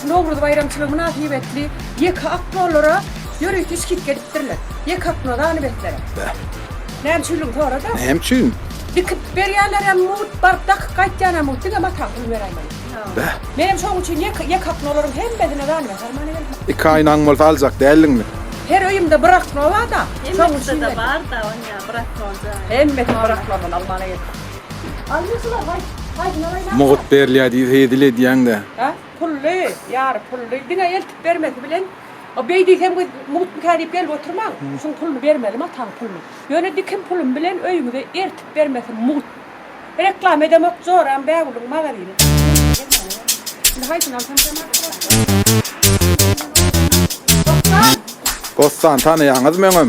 Şu Nowruz baýramçylygy mynasybetli ýeke oknolara ýörite skidka edipdirler. Ýeke okno zanibetlere. Beh. Näme üçinligini sora-da. Näme üçin? Dikip berýänlerem mugt, baryp dakyp gaýtýanam mugt, diňe mata pul beräýmeli. Beh. Menem şonuň üçin ýeke ýeke oknolaryň hemmesine zanibet almana geldim. Iki aýnaň bolsa aljak däldiňmi? Her öýümde bir okno bar-da, şonuň üçin geldim. Hemmesinde-de bar-da, onýa bir oknonda. Hemmesini bir oknondan almana geldim. Mugut berilýär diýip hezil edýäň-dä. Hä? Pully, ýary pully. Diňe eltip bermesi bilen, o beý diýseň biz mugutmyka diýip gelip oturmaň. Şuň puluny bermelimi, ataň puluny. Ýöne dikim pulum bilen öýüňize eltip bermesi mugut. Reklama edemok, joram Bägüliň magazyny. Indi haýsyny alsam kemaly bolarka? Bossan. Bossan, tanaýaňyzmy öňem?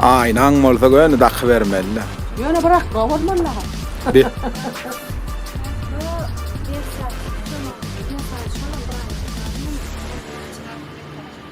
Aýnaň bolsa göni dakybermeli-dä.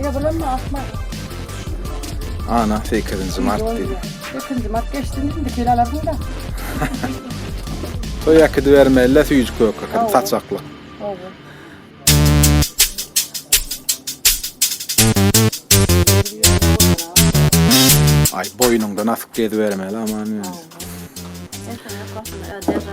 Ýa bulanma asma. Ana 8-nji mart diýdi. 8-nji mart geçdi indi gel alarsyň da. Toý äkidi bermeli süýjük gök äkidi saçakly. Oba. Ay boýnuňdan asyp gezi bermeli aman. Oba. Sen sen yok aslında. Öde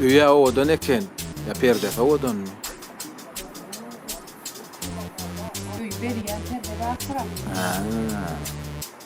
Öýe owadan eken. Ya perdesi owadanmy? Öý berýän perde bar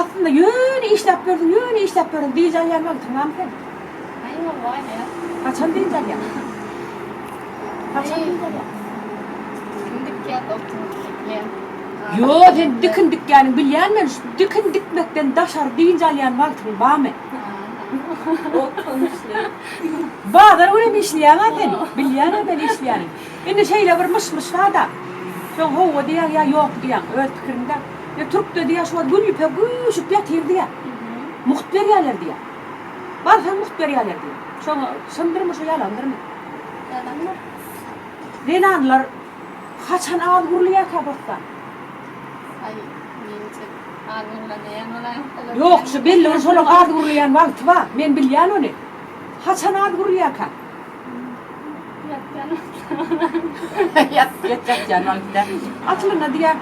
Aslynda ýöne işläp ýördüň, ýöne işläp ýördüň, dynç alýan wagtyňam sen. Aý howaý aýal. Haçan dynç alýaň? Haçan dynç alýaň? Kim dikýär oturyp dikýär. Ýo sen dikin dikýäniň bilýän men şu dikin dikmekden daşary dynç alýan wagtyň bamy? Otdan işleýin. Bazar günem işleýäňä sen, bilýänä men işleýäniň. Indi şeýle bir myş-myş barda. Soň howwa diýýäň ýa ýok diýýäň, öz pikiriňdä. Ýa türk dedi ýa şuwagt gül ýüpek üwşüp ýatyr diýä. Mugt berýäler diýä. Barsaň mugt berýäler diýä. Şoň çyndyrmy şo ýalandyrmy? Ýalandyr. Zenanlar haçan az gurulýarka bossan? Aý, menje az gurlanýan bolaýmasalar. Ýok, şu belligiň şolaň az gurulýan wagty bar. Men bilýän ony. Haçan az gurulýarka? Aslynda diýýär,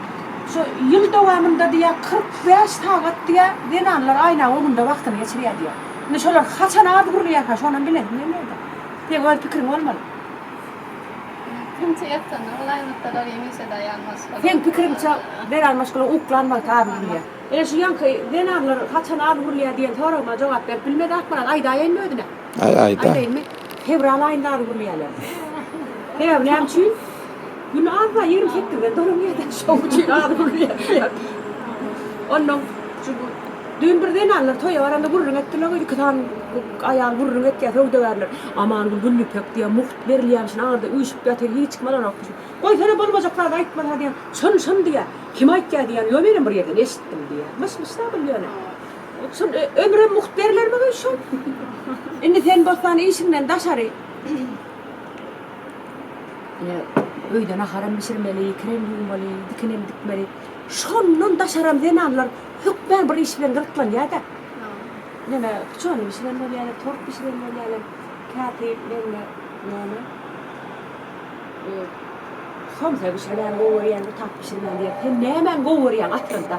şu ýyl dowamynda diýýär, kyrk bäş sagat diýýär, zenanlar aýnagy öňünde wagtyny geçirýär diýýär. Indi şolar haçan az gurulýarka, şonam bilesim gelmeýärdi. Seň öz pikiriň bolmaly. Seň pikiriňçe, Beral maşgala uklanmasa az gurulýar. Ine şu ýaňky zenanlar haçan az gurulýar diýen soragyma jogap berip bilmedäkmiň, aýdaýaýynmy özüne? Ay ay da. Aýdaýmy? Fewral aýynda az gürleýärler. Sebäbi näme üçin? Gün azda 28-de dolan ýerde şoň üçin az gürleýärler. Ondan şu düýn bir zenanlar toýa baranda gürrüň etdiler we iki sany aýal gürrüň etýär söwdagärler. Amangül Güllüpek diýýär, mugt berilýän üçin aňyrda üýşüp ýatyr, hiç kim alanok diýip. Goýsana bolmajak zady aýtmasa diýýär. Şony şony diýýär. Kim aýtýar diýýär. Ýok menem bir ýerden eşitdim diýýär. Myş-myş zat ol ýöne. Şol ömrem mugt berilermigin şol. Indi sen bossan işiňden daşary. Ine, öýde naharam bişirmeli, kirem ýuwmaly, dikenem dikmeli. Şondan daşaram zenanlar hökmän bir iş bilen gyzyklanýar-da. Ine, puçany bişiren bolýalar, tort bişiren bolýalar, käte mende näme, somsa bişirmän gowy görýän, bir zat bişirmän diýip, sen nämäni gowy görýäň aslynda?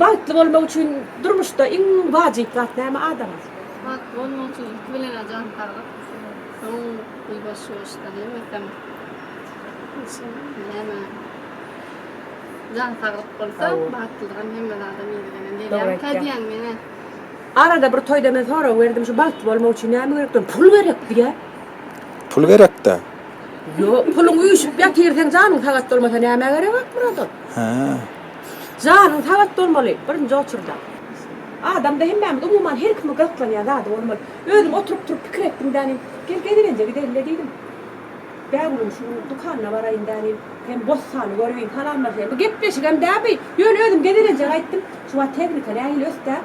Bagtly bolmak üçin durmuşda iň wajyp zat näme adama? Bagtly bolmak üçin ilki bilen jan saglyk. Soň pul boş ýoşdan hemmesem. Näme? Jan saglyk bolsa bagtlylygam hemme zada meňzeýän gelýär. Kä diýýäň meňe? Arada bir toýda men sorag berdim şu bagtly bolmak üçin näme gerek diýen pul gerek diýýä. Pul gerekdä? Ýok puluň üýşüp ýatyr seň janyň sagat bolmasa nämä gerek Akmyrat ol. Hä. Janyň sagat bolmaly, birinji oçurda. Adamda hemmämiz, umuman, her kimiň gyzyklanýan zady bolmaly. Özüm oturyp-turup pikir etdim dänim, Gel, gezelenje gideýin-le diýdim. Bägmugin şu gün dükanyna baraýyn dänim, hem bossany göreýin, salamlaşaýyn. Bu gepleşigem däl bu, ýöne özüm gezelenje gaýtdym. Şu wagt tehnika nähili ösdä.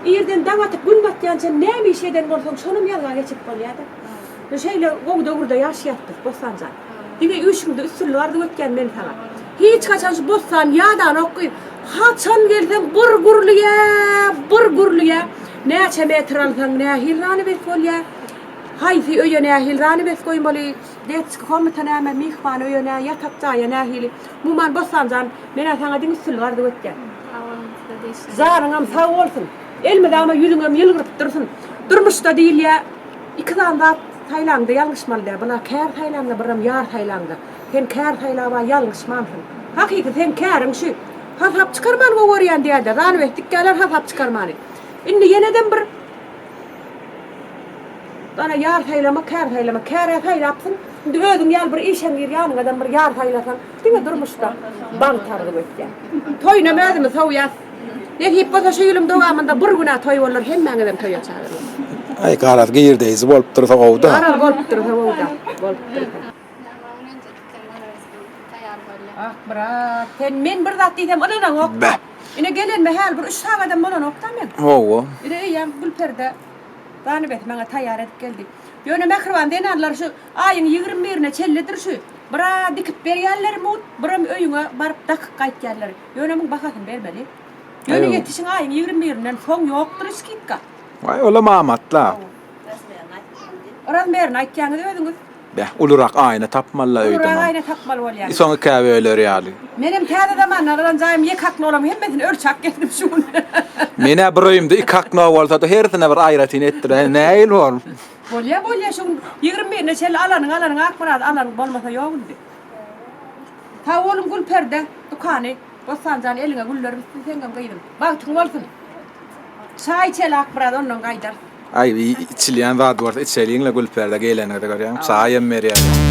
Irden daň atyp, gün batýançam näme iş eden bolsaň, şonam ýazga geçirip bolýa-da. Şeýle gowy döwürde ýaşaýapdyr Bossanjan. Diňe işiňde üstünlik arzuw etýän men saňa. Hiç haçan şu Bossan ýadanok gyz. Haçan gelseň bir gürlüge, bir gürlüge. Näçe metr alsaň nähili zanawes bolýa. Haýsy öýe nähili zanawes goýmaly. Detski komnata näme, myhman öýe nä, ýatak jaýa nähili. Muman Bossanjan menä saňa diňe üstünlik arzuw etýän. Sag boluň size-de işiňizde. Janyňam sag bolsun. Elmydama ýüzüňem ýylgyryp dursyn. Durmuşda diýilýä. Iki sany zat saýlanyňda ýalňyşmaly däl. Bular kär saýlanda birem ýar saýlanyňda. Sen kär saýlawa ýalňyşmansyň. Hakyky seň käriň şu. Hasap çykarmany gowy görýän diýäýdä. Zanawes dikýäler hasap çykarmany. Indi ýenedem bir Bana ýar saýlama kär saýlama. Kärä saýlapsyň. Indi özüň ýaly bir işeň gir ýanyňadam bir ýar saýlasaň. Diňe durmuşda bagt arzuw etýän. Toýunam özümiz sowýas. Nesip bolsa şu ýylyň dowamynda bir günä toý bolar hemmäňizem toýa çagyryn. Aý garaz girdeýji bolup dursa gowuda. Garaz bolup dursa gowuda. Bolup dursa. Ah brat, sen men bir zat diýsem ynanaňokda. Ine gelenime häli bir üç sagadam bolanokda men. Hawa. Ine öýýäm Gülperde ganybet maňa taýýar edip geldi. Ýöne mähriban zenanlar şu aýyň ýigrimi birine çelledir şu bra dikip berýärlermut, biram öýüňe baryp dakyp gaýtýarlar. Ýöne muň bahasyny bermeli. Ýöne ýetişiň aýyň ýigrimi birinden soň ýokdur skidka. Waý, olam amatla. Oraz merini aýtýaňyz özüňiz. Beh, ulurak aýna tapmaly-la öýdemem. Ulurak aýna tapmaly bolýar. Soň ikä böler ýaly. Menem täze zamandan alan jaýym ýek akna olaryň hemmesini ölçäp geldim şu gün. Men-ä bir öýümde iki akna bolsa-da hersine bir aýratyn etdiräýin, nähili bor? Bolýa, bolýa, şu gün ýigrimi birine çenli alanyň, alanyň Akmyrat, alanyň bolmasa ýok indi. Sag boluň Gülperde dükany Bossanjan eliňe güller bitsin seňňem gyzym bagtyň bolsun çaý içelak biraz ondan gaýdarys. Aý bir içilýän zat bolsa içeliňle Gülperde geleniňizi görýäňmi çaý hem berýäler.